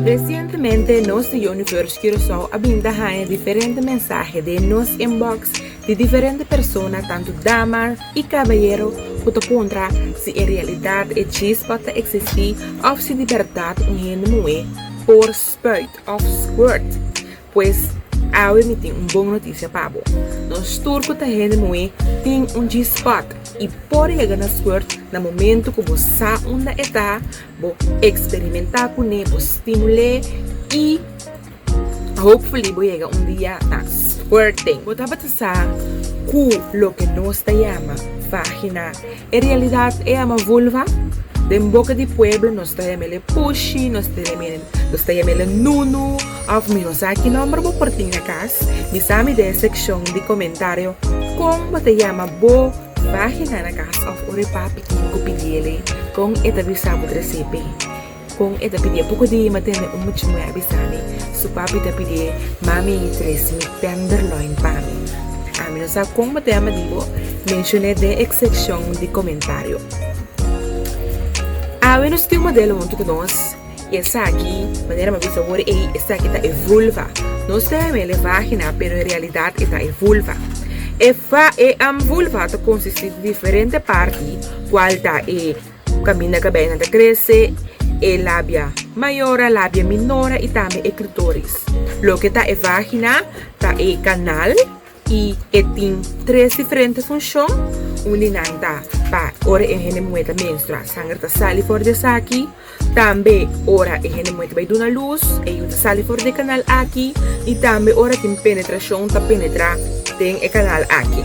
Resientemente nos di Universe Curaçao a bin ta haña diferente mensahe den nos inbox di diferente persona tantu dama i kabayero ku ta puntra si e realidat e chispa ta eksistí òf si di bèrdat un hende muhé por spuit òf squirt. Pues, awe mi tin un bon notisia pa bo. Nos tur ku ta hende muhé tin un G-spot i por yega na squirt na momentu ku bo sa unda e ta, bo eksperimentá kuné, bo stimul'é i hopefully bo yega un dia ta squirting. Bo tabata sa ku loke nos ta yama vagina E realidat ey a ma vulva den boca di pueblo nos ta yama el e pushi, nos ta yama el, nos ta yama el e nunu of mi no sa ki nomber bo por tin na cas, bisami den e seccion di comentario con bo ta yama bo vagina na cas of ora e papi tin cu pidi eley con e ta bisa bo trece pey. Kon e ta pidié poko di ma tende un mucha muhé a bisami su papi ta pidié mami tresi mi tenderloin pami ami no sa kon mat'e ama dibo menshon'é den e sekshon di komentario awe nos tin un modelo huntu ku nos i esaki manera mi a bisa wor ei esaki ta e vulva nos ta yam'el e vagina pero en realidat eta e vulva e vulva ta konsistí di diferente parti kual ta e. Kaminda kabei nan ta trese, e labia mayora, labia minora i tambe e klitoris. Loke ta e vagina ta e kanal i e tin tres diferente funshon. Un di nan ta pa ora e hende muhé ta menstra, sanger ta sali for di esaki. Tambe ora e hende muhé ta bai duna lus, e yu ta sali for di e kanal aki. I tambe ora tin penetrashon ta penetra den e kanal aki.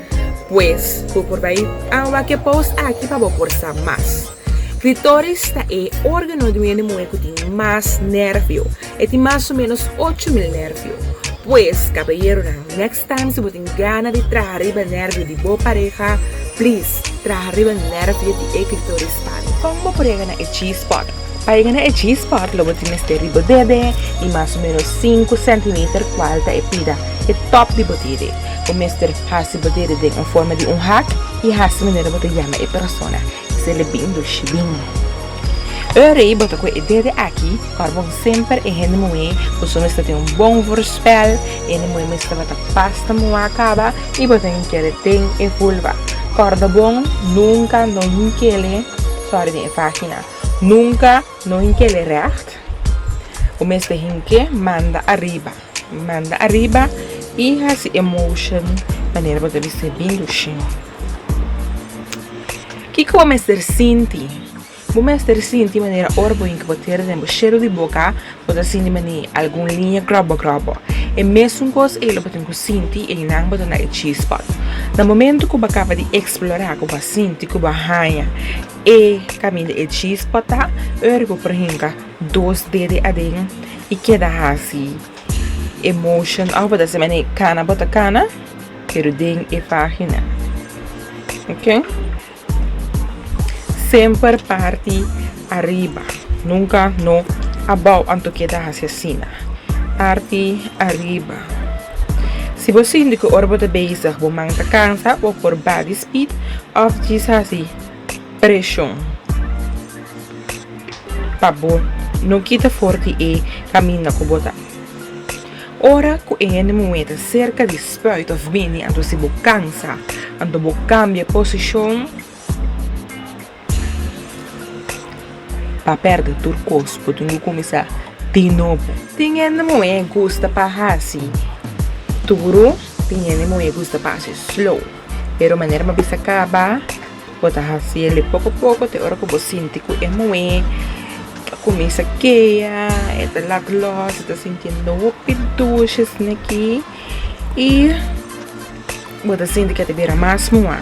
Pues, bo por bai awa ku e post aki pa bo por sa mas. Klitoris ta e organo di un hende muhé ku tin mas nervio. E tin mas o ménos ocho mil nervio. Pues, kaballeronan, next time si bo tin gana di traha riba nervio di bo pareha, please, traha riba nervio di e klitoris pa mi. Kon bo por yega na e G-spot? Pa yega na e G-spot lo bo tin mester riba bebe i mas o menos sinku sentimeter kual ta e pida, e top, di bo dede. Bo mester hasi bo dede den un forma di un hak i hasi manera bo ta yama e persona i seli bin dushi bin. Ora ei bo ta kue e dede aki, kòrbon semper e hende muhé, bo so mester tin un bon voorspel, e hende muhé mester tabata pas ta muha kaba i bo ta hink'é den e vulva. Kòrda bon, nunka no hink'é lé sòri den e vagina. Nunka no hink'é lei règt. Bo mester hink'é manda ariba. Manda ariba i hasi e motion manera bo ta bisti bin dushim. Kiko bo mester sinti? Bo mester sinti manera ora bo hink bo tera den bo shero di boka bo ta sinti mane algun liña gròbò gròbò. E mesun kos ei lo bo tin ku sinti, einan bo ta na e G-spot. Na momentu ku bo a kaba di eksplorá, ku bo a sinti, ku bo a haña. E kaminda e chispa ta, ora ku por hinka dos dede aden i keda hasi e motion òf bo ta simbra e kana bo ta kana pero den e página. Ok, semper parti ariba, nunka no abou anto keda hasi asina. Parti ariba. Si bo sinti ku ora bo ta bezig bo man ta kansa, bo por baha di speed òf djis hasi. Preshon. Pa bo no kita for di e kaminda ku bo ta. Ora ku e hende muhé ta serka di spuit òf bini anto si bo kansa, anto bo kambia posishon pa pèrdè tur kos, bo tin ku kuminsá di nobo. Tin hende muhé gusta pa hasi duru, tin hende muhé gusta pa hasi slow. pero manera bo a bisa caba bo ta haciele poco poco te ora cu bo sinti cu e muhe a cuminsa kea e ta lac los e ta sintiendo hopi dushi asina aki y bo ta sinti cu a ta bira mas mua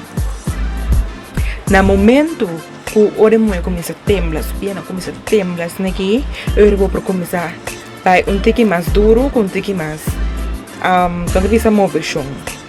na momento cu ora e muhe cuminsa tembla su piennan cuminsa tembla asina aki e ora cu bo por cuminsa bai un tiki mas duro cu un tiki mas tonde bisa moveshon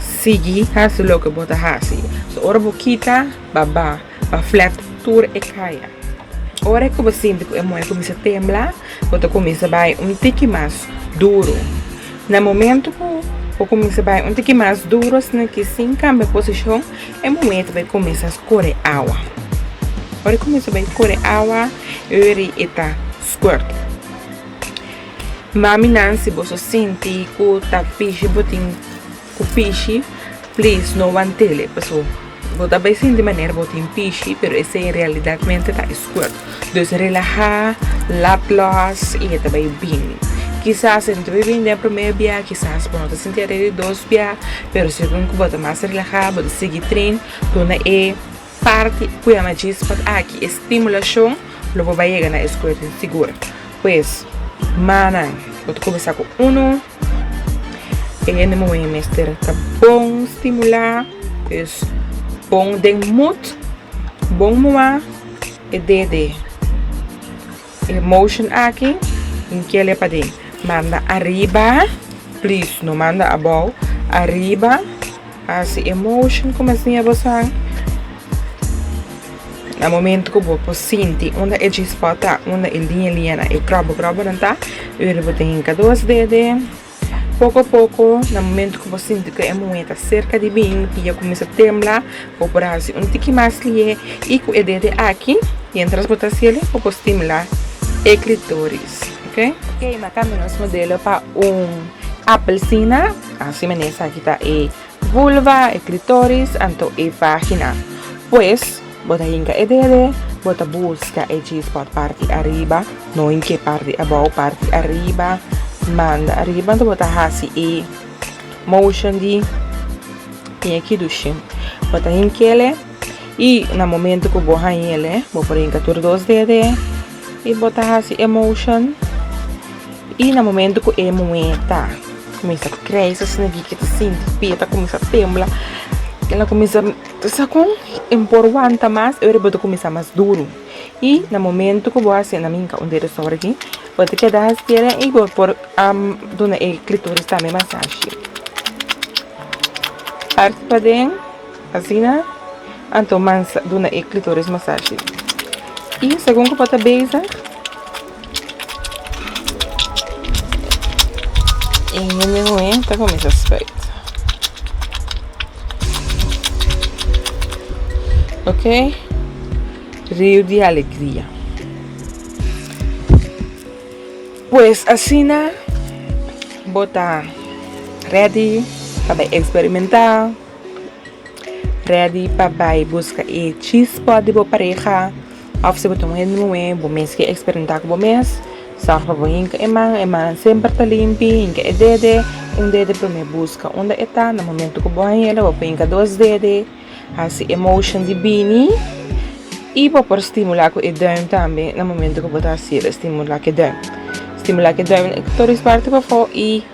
Sigui hasi loke bo ta hasi. So ora bo kita baba, pa flat tur e kaya. Ora ku bo sinti ku e muhé kuminsá tembla, bo ta kuminsá bai un tiki mas duru. Na momentu ku bo kuminsá bai un tiki mas duru asina ki sin kambia posishon, e muhé ta bai kuminsá skore awa. Ora e kuminsá bai kore awa, yu ri e ta skuert. Maminan si boso sinti ku ta pishi bo tin ku pishi please no wantele paso bo ta bai sinti manera bo tin pishi pero esei en realidadmente ta squirt dus relaha lap los i e ta bai bin kisas e no ta bai bin den primer bia kisas bo no ta sinti are'i di dos bia pero segun ku bo ta mas relaha bo ta sigui trin duna e Parti cu ya na djis pa aki e stimulacion lo bo bay yega na e scote sigur. Pues, mannan bo ta cuminsa cu uno, e hende moe mester ta bon stimula, pues bon den moed, bon moa e dede. E motion aki tin ke le paden manda ariba please no manda abou ariba hasi e motion ku mi a siña boso an na momento ku bo por sinti unda e G-spot ta unda e liña liñanan e krobo krobonan ta yu bo tin hinkado sdede. Poko a poko, na momento ku bo sinti ku e muhé ta serka di bin, pia kuminsá tembla, bo por hasi un tiki mas lié i ku e dede aki, miéntras bo ta hasiel, bo por stimulá e klitoris. Oke? Oke, na kamba nos modelo pa un apelsina. Asina mené esaki ta e. Vulva, e klitoris, anto e vagina. Pues, bo ta hinka e dede, bo ta buska e G-spot parti ariba, no hinke parti abou, parti ariba, manda ariba, anto bo ta hasi e motion di piña kidushi. Bo ta hinkele i na momento ku bo hañele, bo por hinka tur dos dede. Y bo ta haci e motion y na momento cu e muhe ta cuminsa crece su snigi ke ta sinti su pia ta cuminsa tembla el a cuminsa ta sa con y no por wanta mas y ora bo ta cuminsa mas duro y na momento cu bo a haci na minga un dedo sobra aquí bo ta keda hasiel y bo por duna e clitoris tambe masashi parti paden. Asina, anto mans a duna e klitoris masashi. I segun ku bo ta bezig e hende muhé ta kuminsá spijt. Ok, riu di alegria. Pues asina bo ta ready pa bai eksperimentá. Ready pa bai buska e G-spot di bo pareha of si bo ta un hende nuwe bo mes ke eksperimenta ku bo mes sòrg pa bo hinka e man e man semper ta limpi hinka e dede un dede promé buska unda e ta na momento ku bo haña bo por hinka dos dede hasi e motion di bini i bo por stimula ku e dùim tambe na momento ku bo ta hasi e stimula ku e dùim stimula ku e dùim tur is parti pafó i.